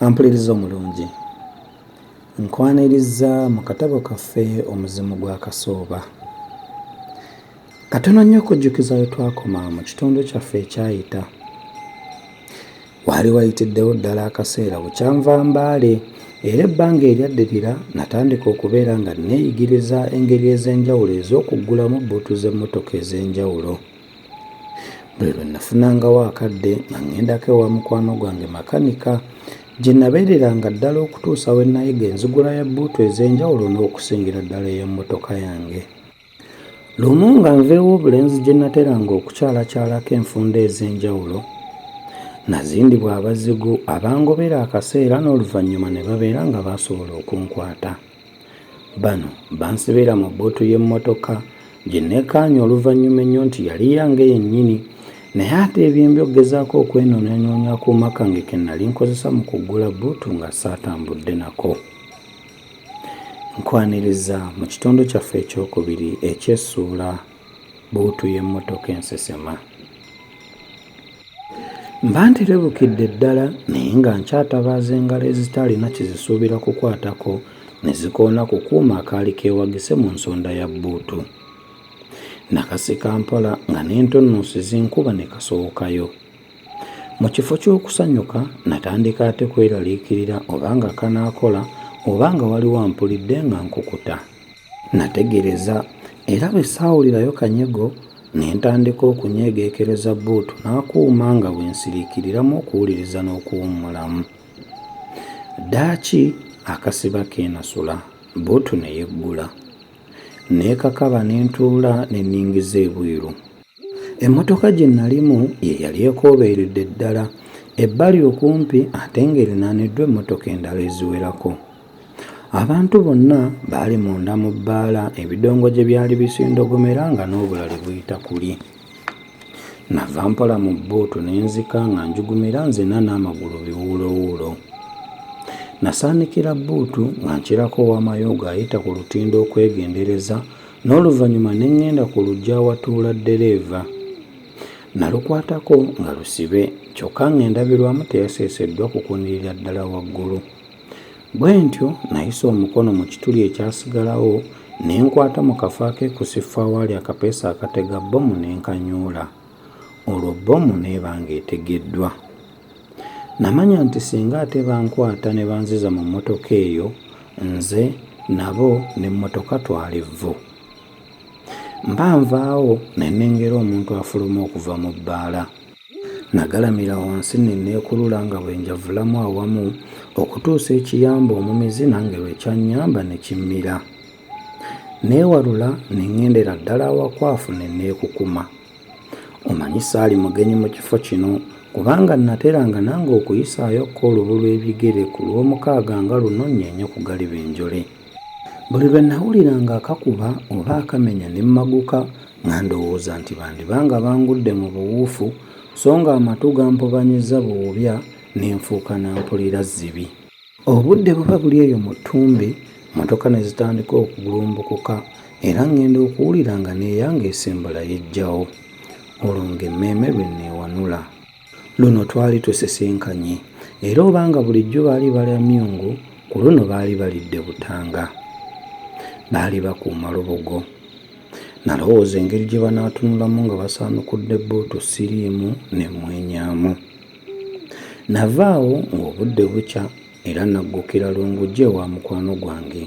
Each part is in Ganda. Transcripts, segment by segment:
ampuliriza omulungi nkwaniriza mu katabo kaffe omuzimu gwa kasooba katono nnyo okujjukiza we twakoma mu kitundu kyaffe ekyayita Waali wayitiddewo ddala akaseera bukya nva Mbale era ebbanga eryaddirira natandika okubeera nga nneeyigiriza engeri ez'enjawulo ez'okuggulamu bbuutu z'emmotoka ez'enjawulo. Buli lwe nafunangawo akadde nga ŋŋendako ewa mukwano gwange makanika gye nabeereranga ddala okutuusa we nayiga enzigula ya bbuutu ez'enjawulo n'okusingira ddala ey'emmotoka yange. Lumu nga nveewo obulenzi gye nateranga okukyalakyalako enfunda ez'enjawulo, nazindibwa abazigu abangobera akaseera n'oluvannyuma ne babeera nga baasobola okunkwata. Bano bansibira mu bbuutu y'emmotoka gye nneekaanya oluvannyuma ennyo nti yali yange yennyini naye ate ebyembi okugezaako okwenoonyanoonya akuuma kange ke nali nkozesa mu kuggula bbuutu nga saatambudde nako. Nkwaniriza mu kitundu kyaffe ekyokubiri eky'essuula Bbuutu y'emmotoka ensesema. Mba nterebukidde ddala naye nga nkyatabaaza engalo ezitaalina kye zisuubira kukwatako ne zikoona ku kuuma akaali keewagise mu nsonda ya bbuutu. Nakasika mpola nga n'entunnunsi zinkuba ne kasowokayo. Mu kifo ky'okusanyuka, natandika ate kweraliikirira oba nga kanaakola oba nga waliwo ampulidde nga nkukuta. Nategereza era bwe saawulirayo kanyego ne ntandika okunyeegeekereza bbuutu n'akuuma nga bwe nsiriikiriramu okuwuliriza n'okuwummulamu. Ddaaki akasiba keenasula, bbuutu ne yeggula. Neekakaba ne ntuula ne nningiza ebweru. Emmotoka gye nnalimu ye yali ekoobeeredde ddala ebbali okumpi ate ng'erinaaniddwa emmotoka endala eziwerako. Abantu bonna baali munda mu bbaala ebidongo gye byali bisindogomera nga n'obulali buyita kuli. Nava mpola mu bbuutu ne nzika nga njugumira nzina n'amagulu biwuulowuulo. Nasaanikira bbuutu nga nkirako owamayoogo ayita ku lutindo okwegendereza n'oluvannyuma ne ŋŋenda ku luggya awatuula ddereeva. Nalukwatako nga lusibe kyokka ng'endabirwamu teyaseeseddwa kukunirira ddala waggulu. Bwe ntyo nayisa omukono mu kituli ekyasigalawo ne nkwata mu kafo akeekusifu awaali akapeesa akatega bbomu ne nkanyoola. Olwo bbomu n'eba ng'etegeddwa. Namanya nti singa ate bankwata ne banziza mu mmotoka eyo nze nabo n'emmotoka twali vvu. Mba nvaawo ne nnengera omuntu afuluma okuva mu bbaala. Nagalamira wansi ne neekulula nga bwe njavulamu awamu okutuusa ekiyambu omumizi nange lwe kyannyamba ne kimmira. Neewalula ne ŋŋendera ddala awakwafu ne neekukuma. Omanyi saali mugenyi mu kifo kino kubanga nnateranga nange okuyisaayokko olubu lw'ebigere ku Lwomukaaga nga luno nnyeenye ku galiba enjole. Buli lwe nnawuliranga akakuba oba akamenya ne mmaguka nga ndowooza nti bandiba nga bangudde mu buwuufu so ng'amatu gampobanyizza buwubya ne nfuuka na mpulira zzibi. Obudde buba buli eyo mu ttumbi, mmotoka ne zitandika okugulumbukuka era ŋŋenda okuwulira nga n'eyange esimbula yeggyawo. Olwo ng'emmeeme lwe nneewanula. Luno twali tusisinkanye era oba nga bulijjo baali balya myungu, ku luno baali balidde butanga. Baali bakuuma lubugo. Nalowooza engeri gye banaatunulamu nga basaanukudde bbuutu siriimu ne mmwenyaamu. Nava awo ng'obudde bukya era nnaggukira Lungujja ewa mukwano gwange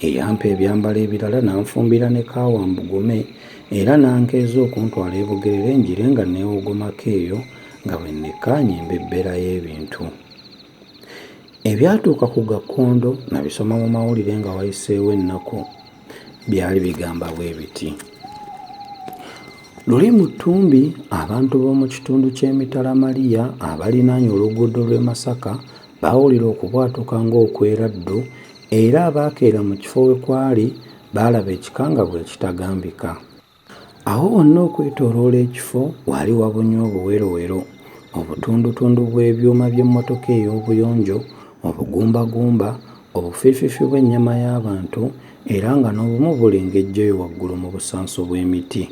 eyampa ebyambalo ebirala n'anfumbira ne kaawa mbugume era n'ankeeza okuntwala e Bugerere ngire nga neewogomako eyo nga bwe nnekkaanya embebbera y'ebintu. Ebyatuuka ku Gakkondo nabisoma mu mawulire nga wayiseewo ennaku. byali bigamba bwe biti luli mu ttumbi abantu b'omu kitundu ky'emitala maliya abalinaanye oluguudo lw'e masaka baawulira okubwatuka ng'okweraddu era abaakeera mu kifo we kwali baalaba ekikangabwa ekitagambika Awo wonna okwetooloola ekifo waali wabunye obuwerowero, obutundutundu bw'ebyuma by'emmotoka ey'obuyonjo, obugumbagumba, obufiififi bw'ennyama y'abantu, era nga n'obumu bulengejjeyo waggulu mu busanso bw'emiti.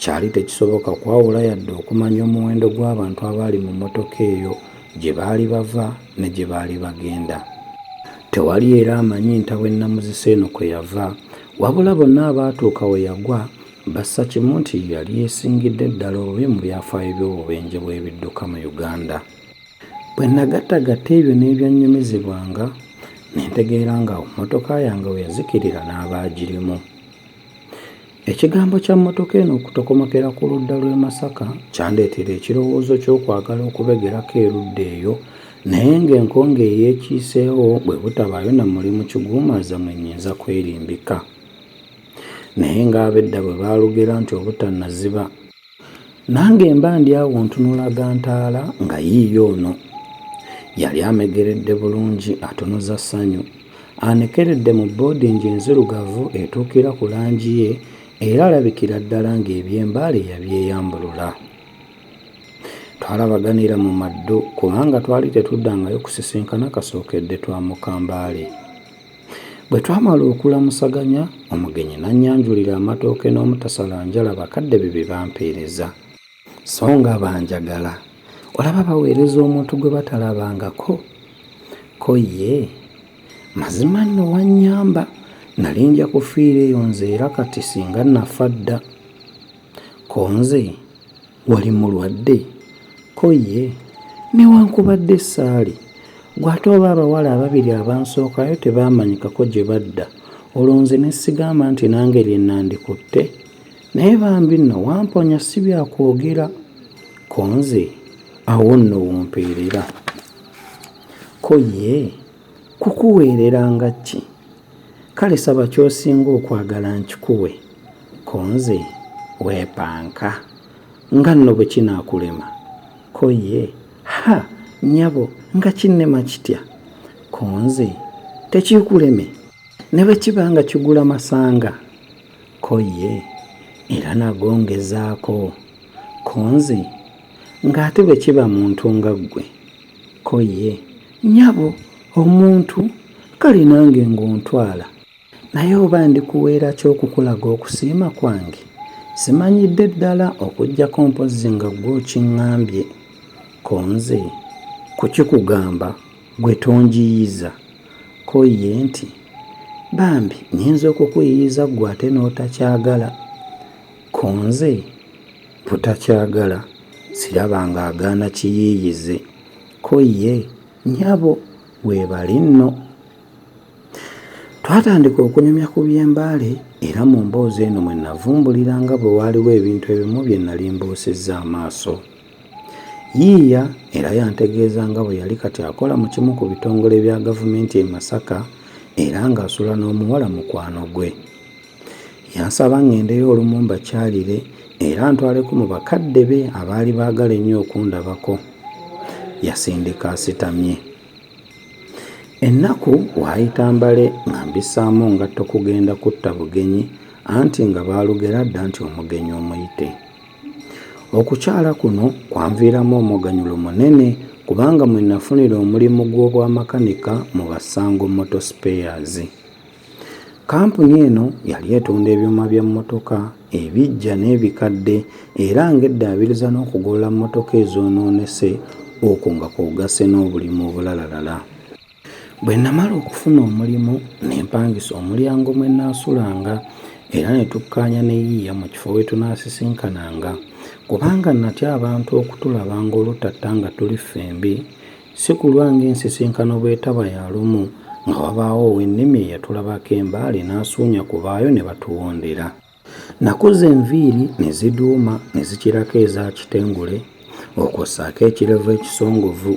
Kyali tekisoboka kwawula yadde okumanya omuwendo gw'abantu abaali mu mmotoka eyo, gye baali bava, ne gye baali bagenda. Tewali era amanyi ntabwe nnamuzisa eno kwe yava, wabula bonna abaatuuka we yagwa bassa kimu nti ye yali yeesingidde ddala obubi mu byafaayo by'obubenje bw'ebidduka mu Uganda. Bwe nnagattagatta ebyo n'ebyannyumizibwanga, ne ntegeera ng'awo mmotoka yange we yazikirira n'abaagirimu. Ekigambo kya mmotoka eno okutokomokera ku ludda lw'e Masaka kyandeetera ekirowoozo ky'okwagala okubegerako erudda eyo naye ng'enkonge eyeekiiseewo bwe butabaayo na mulimu kiguumaaza mwe nnyinza kwerimbika. Naye ng'abedda bwe baalugera nti obutannaziba Nange mba ndi awo ntunula gantaala nga yiiyo ono. Yali amegeredde bulungi atunuza ssanyu. Anekeredde mu boodingi enzirugavu etuukira ku langi ye era alabikira ddala ng'eby'embaale yabyeyambulula. Twalabaganira mu maddu kubanga twali tetuddangayo kusisinkana kasookedde twamuka Mbale. Bwe twamala okulamusaganya, omugenyi n'annyanjulira amatooke n'omutasalanjala bakadde be bye bampeereza. So nga banjagala. Olaba baweereza omuntu gwe batalabangako. Ko ye, Mazima nno wannyamba, nnali nja kufiira eyo nze era kati singa nnafa dda. Ko nze, wali mulwadde ko ye newankubadde saali gwe ate oba abawala ababiri abansookayo tebaamanyikako gye badda olwo nze ne sigamba nti nange lye nandikutte naye bambi nno wamponya si byakwogera ko nze awo nno wompeerera ko ye kukuweerera nga ki Kale saba kyosinga okwagala nkikuwe ko nze wepanka nga nno bwe kinakulema ko ye ha nyabo nga kinnema kitya ko nze tekikuleme ne bwe kiba nga kigula masanga ko ye era nago ngezaako ko nze ng'ate bwe kiba muntu nga ggwe Ko ye, Nnyabo, omuntu, kale nange ng'ontwala. Naye oba ndikuweera ki okukulaga okusiima kwange? Simanyidde ddala okuggyako mpozzi nga ggwe okiŋŋambye. Ko nze, Kukikugamba, ggwe tonjiiyiza. Ko ye nti, Bambi nnyinza okukuyiiyiza ggwe ate n'otakyagala. Ko nze, Butakyagala siraba nga agaana kiyiiyize ko ye nyabo webale nno. Twatandika okunyumya ku by'e Mbale era mu mboozi eno mwe navumbulira nga bwe waaliwo ebintu ebimu bye nali mbuusizza amaaso. Yiiya era yantegeeza nga bwe yali kati akola mu kimu ku bitongole bya gavumenti e Masaka era ng'asula n'omuwala mukwano gwe. Yansaba ng'endeyo olumu mbakyalire era ntwaleko mu bakadde be abaali baagala ennyo okundabako. Yasindika asitamye. Ennaku waayita mbale nga mbisaamu ngatto kugenda kutta bugenyi anti nga baalugera dda nti omugenyi omuyite. Okukyala kuno kwanviiramu omuganyulo munene kubanga mwe nafunira omulimu gw'obwamakanika mu Basango Motor Spares. Kkampuni eno yali etunda ebyuma bya mmotoka ebiggya n'ebikadde era ng'eddaabiriza n'okugolola mmotoka ezoonoonese okwo nga kw'ogasse n'obulimu obulalalala. Bwe nnamala okufuna omulimu ne mpangisa omulyango mwe nnaasulanga era ne tukkaanya ne yiiya mu kifo we tunaasisinkananga kubanga natya abantu okutulaba ng'olutatta nga tuli ffembi Si kulwa ng'ensisinkano bw'etaba ya lumu nga wabaawo ow'ennimi eyatulabako embaale n'asuunya ku baayo ne batuwondera. Nakuza enviiri ne ziduuma ne zikirako eza kitengule okwo ssaako ekirevu ekisongovu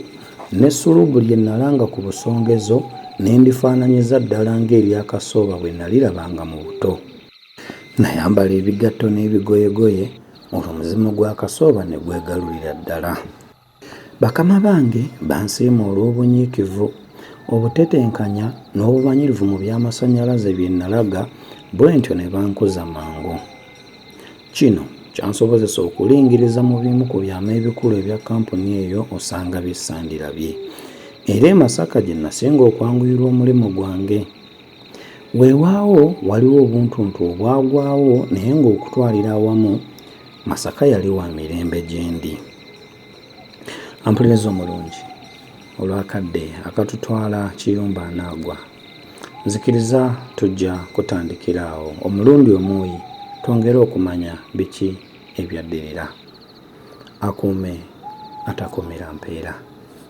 ne sulubu lye nalanga ku busongezo ne ndifaananyiza ddala ng'erya Kasooba bwe nalirabanga mu buto. Nayambala ebigatto n'ebigoyegoye olwo omuzimu gwa Kasooba ne gwegalulira ddala. Bakama bange bansiima olw'obunyiikivu, obutetenkanya n'obumanyirivu mu by'amasannyalaze bye nalaga bwentyo ne bankuza mangu. Kino kyansobozesa okulingiriza mu bimu ku byama ebikulu ebya kkampuni eyo osanga bye sandirabye. Era e Masaka gye nasinga okwanguyirwa omulimu gwange. Weewaawo waliwo obuntuntu obwagwawo naye ng'okutwalira awamu Masaka yali wa mirembe gyendi. Ampuliriza omulungi olw'akadde akatutwala kiyumba anaagwa. Nzikiriza tujja kutandikira awo omulundi omuuyi twongere okumanya biki ebyaddirira. Akuume atakuumira mpeera.